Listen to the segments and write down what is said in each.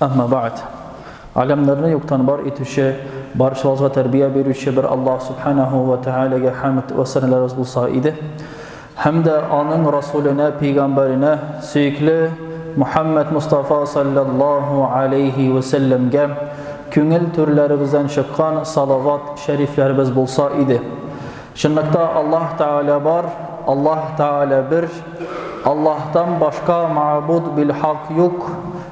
Әмма бәгъд. Галәмнәрне юктан бар итүче, барчабызга тәрбия бирүче бер Аллаһ Субханаһу ва Тәгаләгә хәмд вә сәналарыбыз булса иде. Һәм дә аның Расуленә, пәйгамбәренә, сөекле Мухаммад Мустафа саллаллаһу алейһи ва сәлләмгә күңел түрләребездән чыккан салават шәрифләребез булса иде. Чынлыкта Аллаһ Тәгалә бар, Аллаһ Тәгалә бер, Аллаһтан башка мәгъбуд бил-хак юк.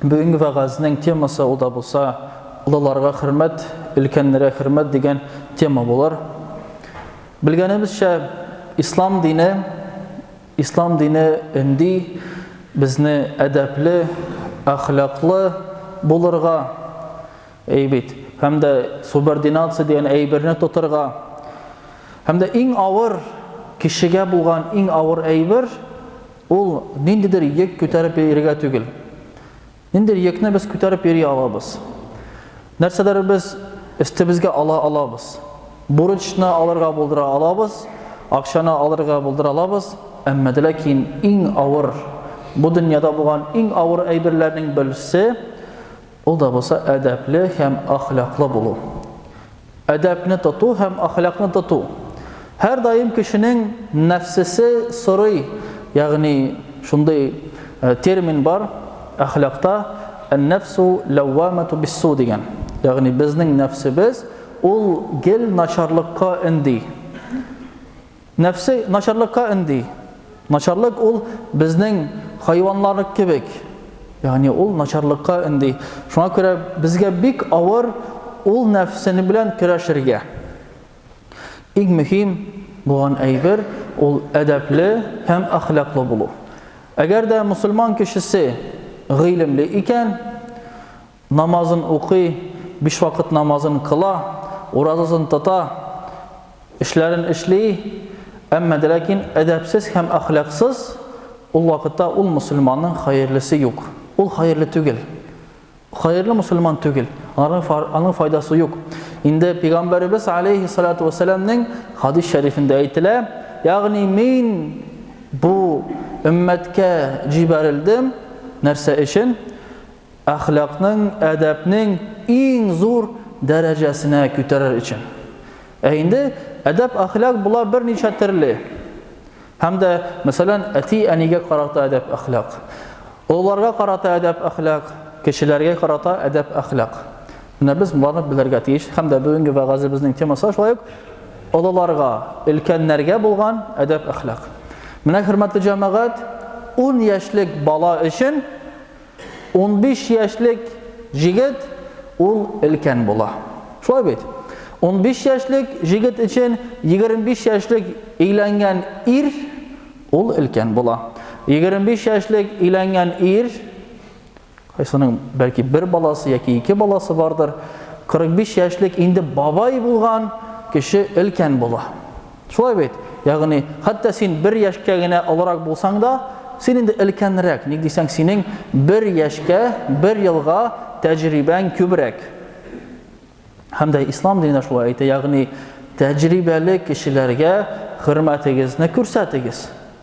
Бүгенге вәгазьнең темасы ул да булса Олыларга хөрмәт, өлкәннәргә хөрмәт дигән тема булыр. Белгәнебезчә, ислам дине, ислам дине өнди безне әдәпле, әхлаклы булырга, әйбит, һәм дә субординация дигән әйберне тотырга. Һәм дә иң авыр кешегә булган иң авыр әйбер Ул ниндидер йөк күтәреп йөрергә түгел. Ниндидер йөкне без күтәреп йөри алабыз. Нәрсәләр без өстебезгә ала алабыз. Бурычны алырга булдыра алабыз, акчаны алырга булдыра алабыз, әмма дә ләкин иң авыр, бу дөньяда булган иң авыр әйберләрнең берсе, Ул да булса әдәпле һәм әхлаклы булу. Әдәпне тоту һәм әхлакны тоту. Һәр даим кешенең нәфсесе сорый, ягъни шундый э, термин бар әхлакта ән-нәфсу ләввамату биссу дигән. Ягъни безнең нәфсебез ул гел начарлыкка энди. Нәфсе начарлыкка өнди. Начарлык ул безнең хайваннар кебек, ягъни ул начарлыкка өнди. Шуңа күрә безгә бик авыр ул нәфсене белән көрәшергә. Иң мөһим булган әйбер ул әдәпле һәм әхлаклы булу. Әгәр дә мөселман кешесе гыйлемле икән, Намазын укый, биш вакыт намазын кыла, уразасын тота, эшләрен эшли, әмма дә ләкин әдәпсез һәм әхлаксыз, ул вакытта ул мөселманның хәерлесе юк. Ул хәерле түгел. Хәерле мөселман түгел. Аның файдасы юк. Инде пигамбәребез алейхи салату вассаламның хадис шәрифендә әйтелә, ягъни мин бу өммәткә җибәрелдем нәрсә өчен? Әхлакның, әдәпнең иң зур дәрәҗәсенә күтәрер өчен. Ә инде әдәп-әхлак була берничә төрле. Һәм дә, мәсәлән, әти-әнигә карата әдәп-әхлак, олыларга карата әдәп-әхлак, кешеләргә карата әдәп-әхлак. Менә без боларны белергә тиеш. Һәм дә бүгенге вәгазебезнең темасы шулай ук олыларга, өлкәннәргә булган әдәп-әхлак. Менә, хөрмәтле җәмәгать, ун яшьлек бала өчен Унбиш яшьлек җегет ул өлкән була. Шулай бит? Унбиш яшьлек җегет өчен егерме биш яшьлек өйләнгән ир ул өлкән була. Егерме биш яшьлек өйләнгән ир, кайсының бәлки бер баласы яки ике баласы бардыр, кырык биш яшьлек инде бабай булган кеше өлкән була. Шулай бит? Ягъни, хәтта син бер яшькә генә олырак булсаң да, син инде өлкәнрәк, ник дисәң, синең бер яшькә, бер елга тәҗрибәң күбрәк. Һәм дә ислам дине шулай әйтә, ягъни, тәҗрибәле кешеләргә хөрмәтегезне күрсәтегез.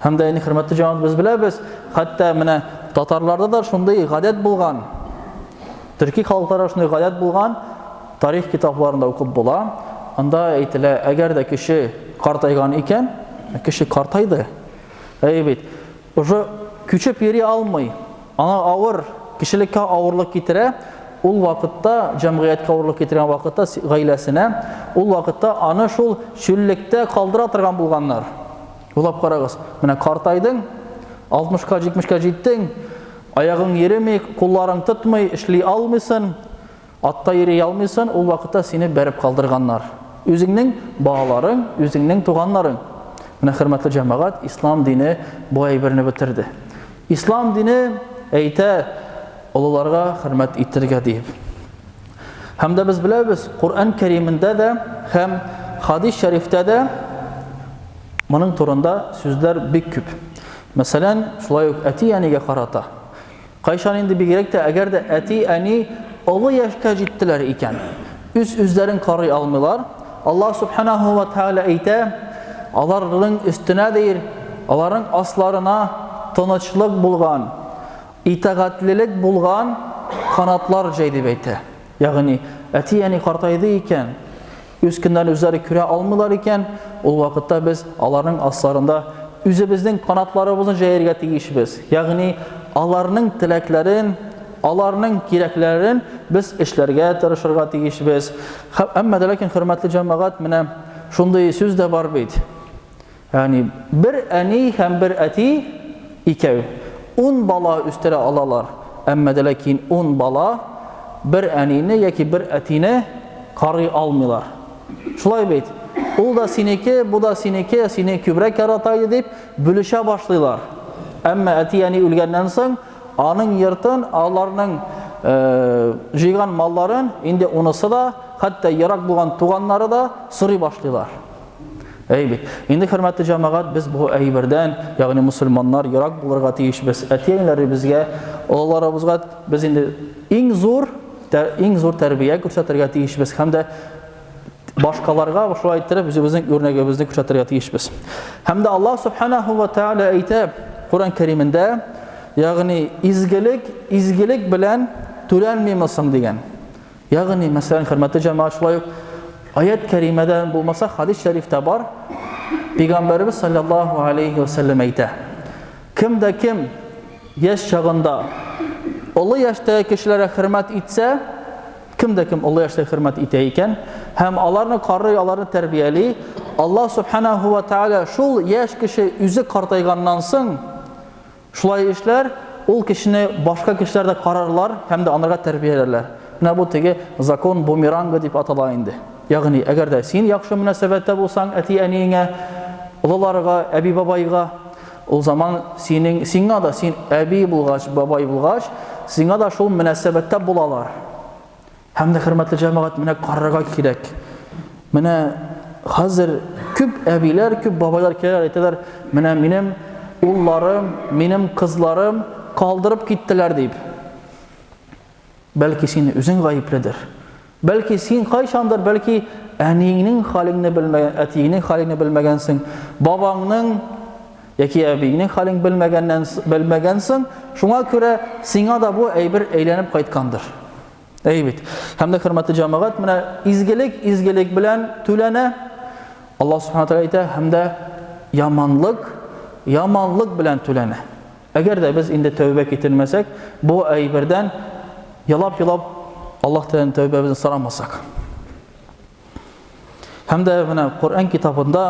Һәм дә инде хөрмәтле җанат без беләбез, хәтта менә татарларда да шундый гадәт булган. Төрки халыкларда шундый гадәт булган, тарих китапларында укып була. Анда әйтелә, әгәр дә кеше картайган икән, кеше картайды. Әй бит, уже күчеп йөри алмый. Аңа авыр, кешелеккә авырлык китерә. Ул вакытта җәмгыятькә авырлык китергән вакытта гаиләсенә, ул вакытта аны шул чүллектә калдыра торган булганнар. Уйлап карагыз, менә картайдың, 60-ка, 70-ка җиттең, аягың йөреми, кулларың тотмый, эшли алмыйсын, атта йөри алмыйсын, ул вакытта сине бәреп калдырганнар. Үзеңнең балаларың, үзеңнең туганнарың. Менә хөрмәтле җәмәгать, ислам дине бу әйберне бетерде. Ислам дине әйтә, олыларга хөрмәт итергә диеп. Һәм дә без беләбез, Коръән Кәримендә дә һәм хадис шәрифтә дә моның турында сүзләр бик күп. Мәсәлән, шулай ук әти-әнигә карата. Кайчан инде бигрәк тә, әгәр дә әти-әни олы яшькә җиттеләр икән, үз үзләрен карый алмыйлар, Аллаһ Субханаһу ва Тааля әйтә, аларның өстенә дир, аларның асларына тынычлык булган, Итагатьлелек булган, канатлар җәй, дип әйтә. Ягъни, әти-әни картайды икән, үз көннәрен үзләре күрә алмыйлар икән, ул вакытта без аларның асларында үзебезнең канатларыбызны җәяргә тиешбез. Ягъни, аларның теләкләрен, аларның кирәкләрен без эшләргә тырышырга тиешбез. Әмма дә ләкин, хөрмәтле җәмәгать, менә шундый сүз дә бар бит. Ягъни, бер әни һәм бер әти, икәү, ун бала үстерә алалар, әмма дә ләкин ун бала бер әнине яки бер әтине карый алмыйлар. Шулай бит? Ул да синеке, бу да синеке, сине күбрәк ярата иде дип, бүлешә башлыйлар. Әмма әти-әни үлгәннән соң, аның йортын, аларның җыйган малларын инде унысы да, хәтта ерак булган туганнары да сорый башлыйлар. Әй бит. Инде хөрмәтле җәмәгать, без бу әйбердән, ягъни мусульманнар ерак булырга тиешбез. Әти-әниләребезгә, олыларыбызга без инде иң зур, иң зур тәрбия күрсәтергә тиешбез һәм дә башкаларга шулай иттереп үзебезнең үрнәгебезне күрсәтергә тиешбез. Һәм дә Аллаһ субханаһу ва тааля әйтә Коран Кәримендә, ягъни изгелек, изгелек белән түләнмимесең дигән. Ягъни, мәсәлән, хөрмәтле җәмәгать, шулай ук аят кәримәдә булмаса, хадис шәрифтә бар. Пәйгамбәрбез саллаллаһу алейхи ва саллям әйтә: Кем дә кем яшь чагында олы яшьтәге кешеләргә хөрмәт итсә, кем дә кем олы яшьтәге хөрмәт итә икән һәм аларны карый, аларны тәрбияли, Аллаһ субханаһу ва тааля шул яшь кеше үзе картайганнан соң Шулай эшләр, ул кешене башка кешеләр дә карарлар һәм дә анырга тәрбияләрләр. Менә бу теге закон бумеранга дип атала инде. Ягъни, әгәр дә син яхшы мөнәсәбәттә булсаң әти-әниеңә, олыларга, әби-бабайга, ул заман синең, сиңа да, син әби булгач, бабай булгач, сиңа да шул мөнәсәбәттә булалар. Һәм дә хөрмәтле җәмәгать, менә карарга кирәк. Менә хәзер күп әбиләр, күп бабайлар киләләр, әйтәләр, менә минем улларым, минем кызларым калдырып киттеләр дип. Бәлки син үзең гаепледер. Бәлки син кайчандыр, бәлки әниеңнең халыңны белмәгән, әтиеңнең халыңны белмәгәнсең, бабаңның яки әбиеңнең халын белмәгәннән белмәгәнсең, шуңа күрә сиңа да бу әйбер әйләнеп кайткандыр. Әй бит. Һәм дә хөрмәтле җәмәгать, менә изгелек изгелек белән түләнә. Аллаһ Субхану тәгалә әйтә, һәм дә яманлык яманлык белән түләнә. Әгәр дә без инде тәүбә китермәсәк, бу әйбердән ялап-ялап Аллаһ Тәгаләдән тәүбәбезне сорамасак. Һәм дә менә Коръән китабында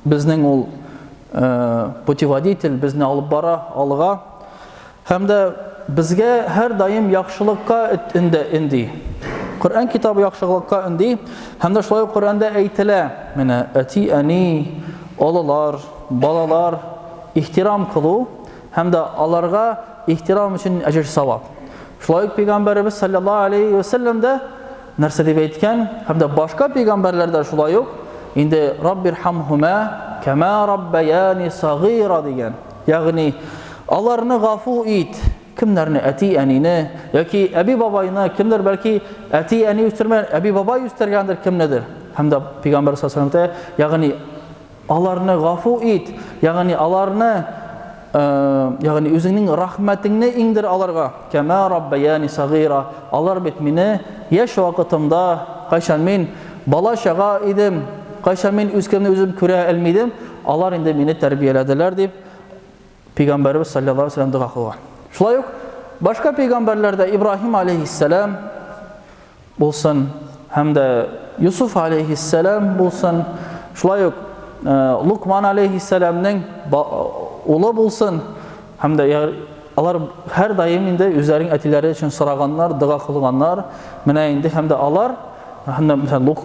безнең ул э, путеводитель безне алып бара алга. Һәм дә безгә һәр даим яхшылыкка инде инде. Коръән китабы яхшылыкка инде. Һәм дә шулай Коръәндә әйтелә, менә әти әни, олылар, балалар ихтирам кылу һәм дә аларга ихтирам өчен әҗер савап. Шулай ук пәйгамбәребез саллаллаһу алейхи ва саллям да Нәрсә дип әйткән? Һәм дә башка пәйгамбәрләр дә шулай ук инде Раббирхамһума кама раббаяни сагыйра дигән. Ягъни аларны гафу ит. Кемнәрне әти-әнине яки әби-бабайны, кемдер бәлки әти-әни үстергән, әби-бабай үстергәндер кемнедер. Һәм дә пәйгамбәр саллаллаһу алейһи ва сәлләм ягъни Аларны гафу ит, ягъни аларны, э, ягъни үзеңнең рәхмәтеңне иңдер аларга. Кәмә раббаяни сагыйра. Алар бит мине яшь вакытымда, кайчан мин бала чага идем, кайчан мин үзкемне үзем күрә алмый идем, алар инде мине тәрбияләделәр, дип пәйгамбәребез саллаллаһу алейһи вәсәлләм дога кылган. Шулай ук башка пәйгамбәрләр дә Ибраһим алейһиссәлам булсын һәм дә Юсуф алейһиссәлам булсын, шулай ук э, Лукман алейһиссәламның улы булсын һәм дә алар һәр даим инде үзләренең әтиләре өчен сораганнар, дога кылганнар. Менә инде һәм дә алар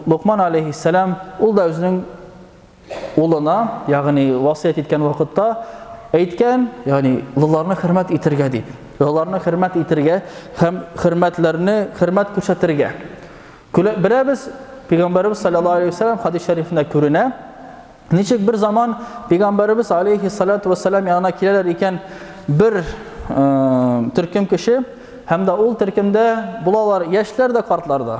Лукман алейһиссәлам ул да үзенең Улына, ягъни васыять иткән вакытта әйткән, ягъни олыларны хөрмәт итергә дип. Олыларны хөрмәт итергә һәм хөрмәтләрне хөрмәт күрсәтергә. Беләбез, Пәйгамбәрбез саллаллаһу алейһи ва сәлләм хадис шәрифендә күренә, ничек бер заман Пәйгамбәрбез алейһи салату ва сәлләм янына киләләр икән бер төркем кеше һәм дә ул төркемдә булалар яшьләр дә, картлар да.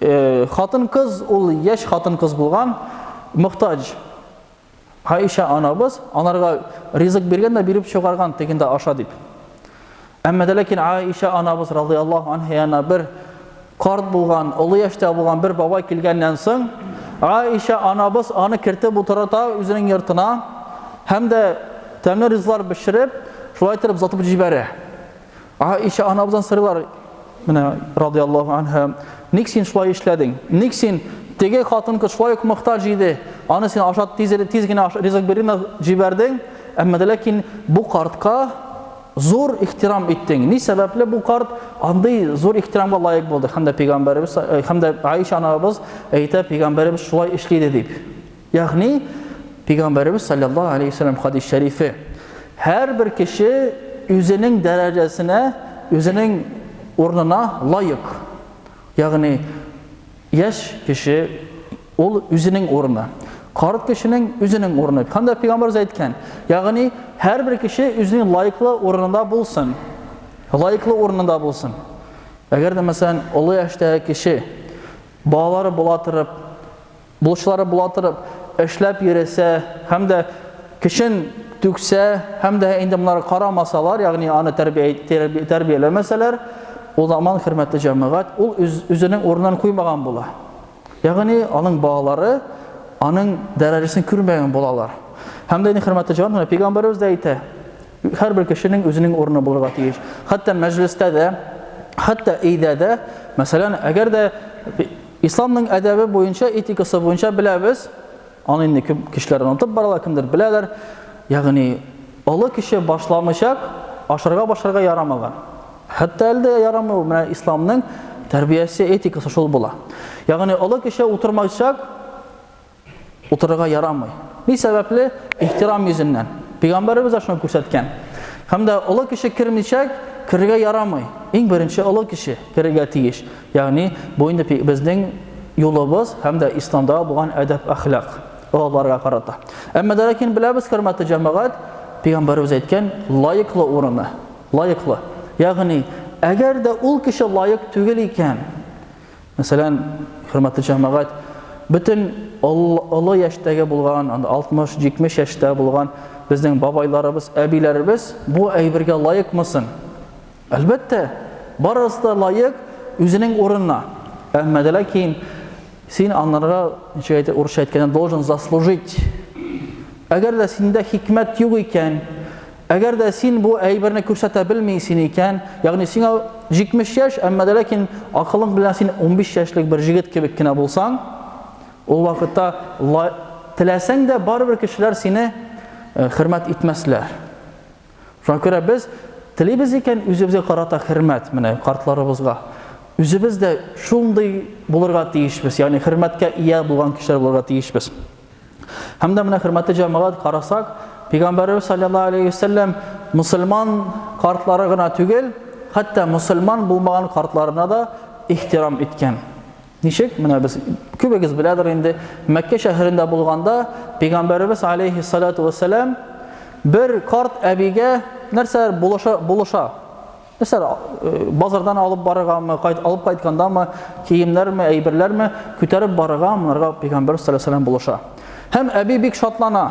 Э, хатын-кыз ул яшь хатын-кыз булган, мохтаҗ. Айша анабыз аларга ризык биргән дә биреп чыгарган тегендә аша дип. Әмма дә ләкин Айша анабыз радиаллаһу анһа янына бер карт булган, олы яшьтә булган бер бабай килгәннән соң, Айша анабыз аны кертеп утырта үзенең йортына һәм дә тәмле ризлар бешереп, шулай итеп озатып җибәрә. Аиша анабыздан сорыйлар, менә радиаллаху анха, ник син шулай эшләдең? Ник син теге хатын кыз шулай ук мохтаҗ иде, аны син ашат тиз, тиз генә ризык биренә җибәрдең, әмма ләкин бу картка зур ихтирам иттең. Ни сәбәпле бу карт андый зур ихтирамга лаек булды? Хәмдә пәйгамбәребез, э, хәмдә Аиша анабыз әйтә, пәйгамбәребез шулай эшли дип. Ягъни, Пәйгамбәребез салләллаһу алейһи ва сәлләм хадис шәрифе, һәрбер кеше үзенең дәрәҗәсенә, үзенең урынына лаек. Ягъни, яшь кеше ул үзенең урыны. Карт кешенең үзенең урыны. Һәм дә Пәйгамбәребез әйткән, ягъни һәрбер кеше үзенең лаеклы урынында булсын. Лаеклы урынында булсын. Әгәр дә мәсәлән, олы яшьтәге кеше балалары була торып, Булышлары була торып, эшләп йөресә һәм дә көчен түксә һәм дә инде монар карамасалар, ягъни аны тәрбияләмәсәләр, ул заман хөрмәтле җәмәгать, ул үзенең урынын куймаган була. Ягъни аның балалары аның дәрәҗәсен күрмәгән булалар. Һәм дә инде хөрмәтле җәмәгать, менә пәйгамбәребез дә әйтә, Һәрбер кешенең үзенең урыны булырга тиеш. Хәтта мәҗлестә дә, хәтта өйдә дә, мәсәлән, әгәр дә исламның әдәбе буенча, этикасы буенча беләбез, аны инде күп кешеләр онытып баралар, кемдер беләләр. Ягъни, олы кеше башламыйчак ашарга башарга ярамаган. Хәтта әле дә ярамый ул. Менә исламның тәрбиясе, этикасы шул була. Ягъни, олы кеше утырмайчак Утырырга ярамый. Ни сәбәпле? Ихтирам йөзеннән. Пәйгамбәребез дә шуны күрсәткән. Һәм дә олы кеше кермичә керергә ярамый. Иң беренче олы кеше керергә тиеш. Ягъни бу инде безнең юлыбыз һәм дә исламда булган әдәп-әхлак олыларга карата. Әмма дә ләкин беләбез, хөрмәтле җәмәгать, пәйгамбәребез әйткән лаеклы урыны, лаеклы. Ягъни, әгәр дә ул кеше лаек түгел икән, Мәсәлән, хөрмәтле җәмәгать, бөтен олы яшьтәге булган, 60-70 яшьтә булган безнең бабайларыбыз, әбиләребез бу әйбергә лаекмы соң? Әлбәттә, барысы да лаек үзенең урынына. Әмма дә ләкин син анарга, ничек әйтә, урысча әйткәндә, должен заслужить. Әгәр дә синдә хикмәт юк икән, Әгәр дә син бу әйберне күрсәтә белмисең икән, ягъни сиңа 70 яшь, әмма дә ләкин акылың белән син 15 яшьлек бер җегет кебек кенә булсаң, ул вакытта теләсәң дә барыбер кешеләр сине э, хөрмәт итмәсләр. Шуңа күрә без телибез икән үзебезгә карата хөрмәт, менә картларыбызга. Үзебез дә шундый булырга тиешбез, ягъни хөрмәткә ия булган кешеләр булырга тиешбез. Һәм дә менә хөрмәтле җәмәгать карасак, Пәйгамбәрбез саллаллаһу алейхи вәсәлләм мусульман картлары гына түгел, хәтта мусульман булмаган картларына да ихтирам иткән. Ничек? Менә без күбегез беләдер инде, Мәккә шәһәрендә булганда Пәйгамбәрбез алейхи салату вәсәләм бер карт әбигә нәрсәләр булыша, булыша. Нәрсәләр э, базардан алып барыргамы, кайт алып кайткандамы, киемнәрме, әйберләрме күтәреп барырга монарга пәйгамбәр саллаллаху булыша. Һәм әби бик шатлана.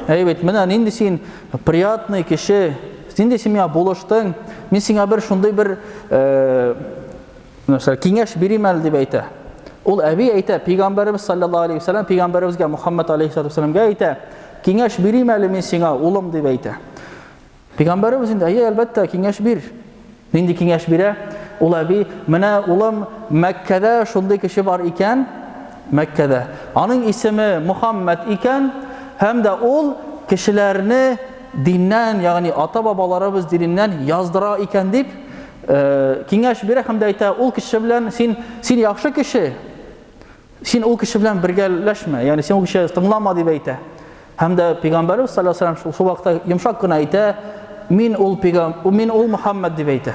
Әй бит, менә нинди син приятный кеше, нинди син миңа булыштың, мин сиңа бер шундый бер э, нәрсә киңәш бирим әле дип әйтә. Ул әби әйтә, пәйгамбәребез саллаллаху алейхи вәсәлләм пәйгамбәребезгә Мухаммад алейхи вәсәлләмгә әйтә, киңәш бирим әле мин сиңа, улым дип әйтә. Пәйгамбәребез инде, әйе, әлбәттә, киңәш бир. Нинди киңәш бирә? Ул әби, менә улым, Мәккәдә шундый кеше бар икән, Мәккәдә. Аның исеме Мухаммад икән, һәм дә ул кешеләрне диннән, ягъни ата-бабаларыбыз диненнән яздыра икән дип, э, киңәш бирә һәм дә әйтә, ул кеше белән син, син яхшы кеше, Син ул кеше белән бергәләшмә, ягъни син ул кеше тыңлама дип әйтә. Һәм дә пәйгамбәрбез саллаллаһу алейһи ва сәлләм шул вакытта йомшак кына әйтә, мин ул пәйгам, мин ул Мухаммад дип әйтә.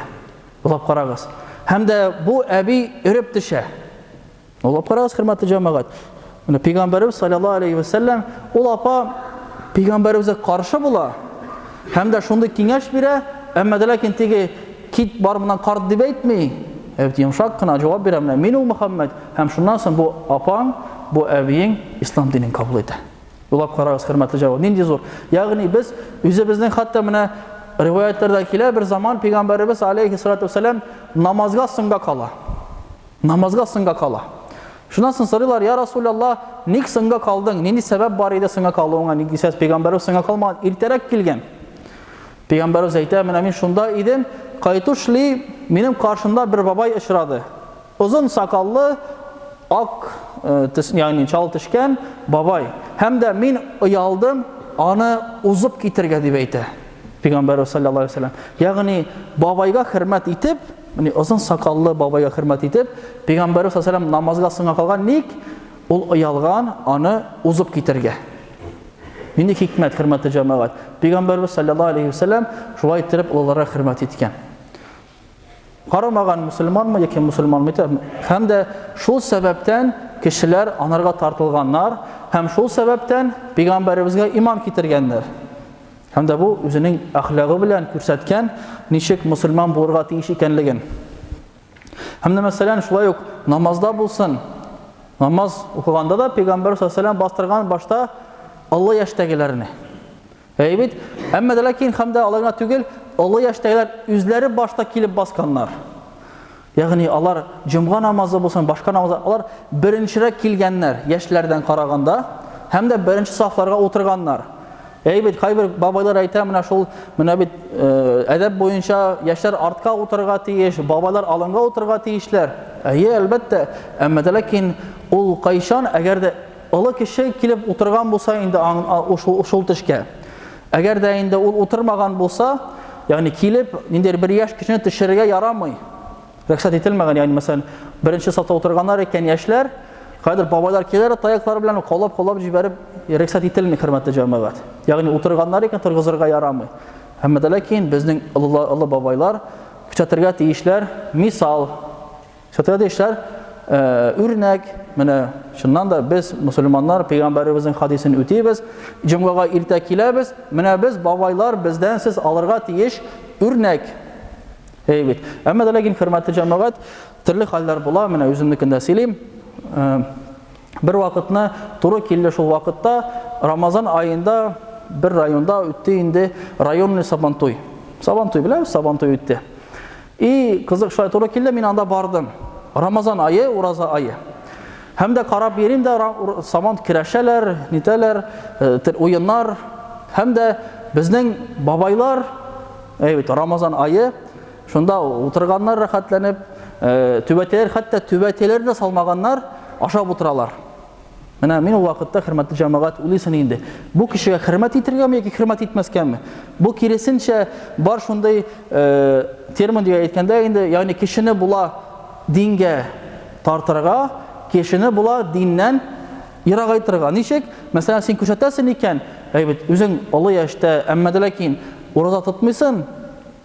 Уйлап карагыз. Һәм дә бу әби өреп төшә. Уйлап карагыз, хөрмәтле җәмәгать. Менә пәйгамбәрбез саллаллаһу алейһи ва сәлләм ул апа пәйгамбәрбезгә каршы була. Һәм дә шундый киңәш бирә, әмма дә ләкин теге кит бар моннан карт дип әйтми, ә бит йомшак кына җавап бирә, менә мин ул Мөхәммәд, һәм шуннан соң бу апаң, бу әбиең ислам динен кабул итә. Уйлап карагыз, хөрмәтле җавап, нинди зур! Ягъни без үзебезнең хәтта менә риваятьләрдә килә, бер заман пәйгамбәребез алейхиссалату вәссәлам намазга соңга кала. Намазга соңга кала. Шуннан соң сорыйлар, я Расул Аллаһ, ник соңга калдың? Нинди сәбәп бар иде соңга калуыңа? Ник дисәз, пәйгамбәрбез соңга калмаган, иртәрәк килгән. Пәйгамбәрбез әйтә, менә мин шунда идем, кайтушли минем каршында бер бабай очрады. Озын сакаллы, ак, э, ягъни чал тешкән бабай. Һәм дә мин оялдым, аны узып китергә дип әйтә. Пәйгамбәрбез саллаллаһу алейһи ва саллям. Ягъни бабайга хөрмәт итеп, Менә озын сакаллы бабайга хөрмәт итеп, пәйгамбәр саллаллаһу намазга соңга калган ник? Ул оялган аны узып китергә. Нинди хикмәт, хөрмәтле җәмәгать? Пәйгамбәрбез саллаллаһу алейхи ва саллям шулай итеп олыларга хөрмәт иткән. Карамаган мусульманмы яки мусульманмы итә, һәм дә шул сәбәптән кешеләр анарга тартылганнар һәм шул сәбәптән пәйгамбәребезгә иман китергәннәр. Һәм дә бу үзенең әхлагы белән күрсәткән, ничек мусульман булырга тиеш икәнлеген. Һәм дә мәсәлән, шулай ук намазда булсын, намаз укыганда да пәйгамбәр саллаллаху бастырган башта олы яшьтәгеләрне. Әйе бит? Әмма ләкин һәм дә аларга түгел, олы яшьтәгеләр үзләре башта килеп басканнар. Ягъни алар җомга намазы булсын, башка намазлар, алар беренчерәк килгәннәр, яшьләрдән караганда, һәм дә беренче сафларга утырганнар. Әй бит, кайбер бабайлар әйтә, менә шул, менә бит әдәп буенча яшьләр артка утырырга тиеш, бабайлар алынга утырырга тиешләр. Әйе, әлбәттә, әмма дә ләкин ул кайчан, әгәр дә олы кеше килеп утырган булса инде шул төшкә. Әгәр дә инде ул утырмаган булса, ягъни килеп, ниндидер бер яшь кешене төшерергә ярамый. Рөхсәт ителмәгән, ягъни мәсәлән, беренче сафта утырганнар икән яшьләр, кайдыр бабайлар киләр, таяклар белән колап-колап җибәреп, рөхсәт ителми, хөрмәтле җәмәгать. Ягъни утырганнар икән торгызырга ярамый. Әмма дә ләкин безнең олы бабайлар күрсәтергә тиешләр мисал. Хәтерләде ишләр, үрнәк, менә чыннан да без мусульманнар пәйгамбәребезнең хадисен үтибез, җомгага иртә киләбез, менә без бабайлар бездән сез алырга тиеш үрнәк. Әй бит. Әмма дә ләкин хөрмәтле җәмәгать, төрле хәлләр була, менә үземнекендә сөйлим. Бер вакытны туры килде шул вакытта, Рамазан аенда бер районда үтте инде районный сабантуй. Сабантуй белән сабантуй үтте. И, кызык, шулай туры килде, мин анда бардым. Рамазан ае, ураза ае. Һәм дә карап йөрим дә, сабан керәшәләр, нитәләр, э, уеннар. Һәм дә безнең бабайлар, әйбит, Рамазан ае, шунда утырганнар рәхәтләнеп, э, түбәтәләр, хәтта түбәтәләрне салмаганнар, ашап утыралар. Менә мин ул вакытта, хөрмәтле җәмәгать, уйлыйсың инде, бу кешегә хөрмәт итергәме яки хөрмәт итмәскәме? Бу киресенчә бар шундый э, термин дип әйткәндә инде, ягъни кешене була дингә тартырга, кешене була диннән ерагайтырга. Ничек? Мәсәлән, син күрсәтәсең икән, әйбит, үзең олы яшьтә, әмма дә ләкин ураза тотмыйсың,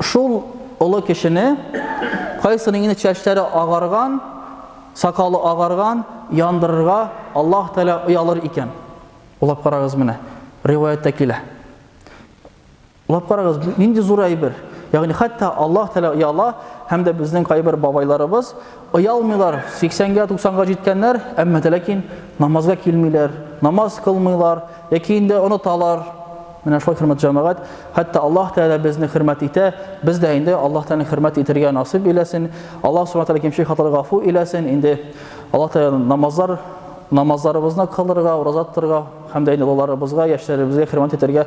Шул олы кешене, кайсының инде чәчләре агарган, сакалы агарган, яндырырга Аллаһ Тәгалә оялыр икән? Уйлап карагыз менә, риваятьтә килә. Уйлап карагыз, нинди зур әйбер. Ягъни хәтта Аллаһ Тәгалә ояла һәм дә безнең кайбер бабайларыбыз Оялмыйлар, 80-гә, 90-га җиткәннәр, әмма дә ләкин намазга килмиләр, намаз кылмыйлар, яки инде оныталар. Менә шулай хөрмәт җәмәгать, хәтта Аллаһ Тәгалә безне хөрмәт итә, без дә инде Аллаһ Тәгаләне хөрмәт итәргә насыйп иләсен. Аллаһ Субхаһу Тәгалә кимче хаталар гафу иләсен. Инде Аллаһ Тәгалә намазлар намазларыбызны кылырга, ураза тотарга һәм дә инде балаларыбызга, яшьләребезгә хөрмәт итәргә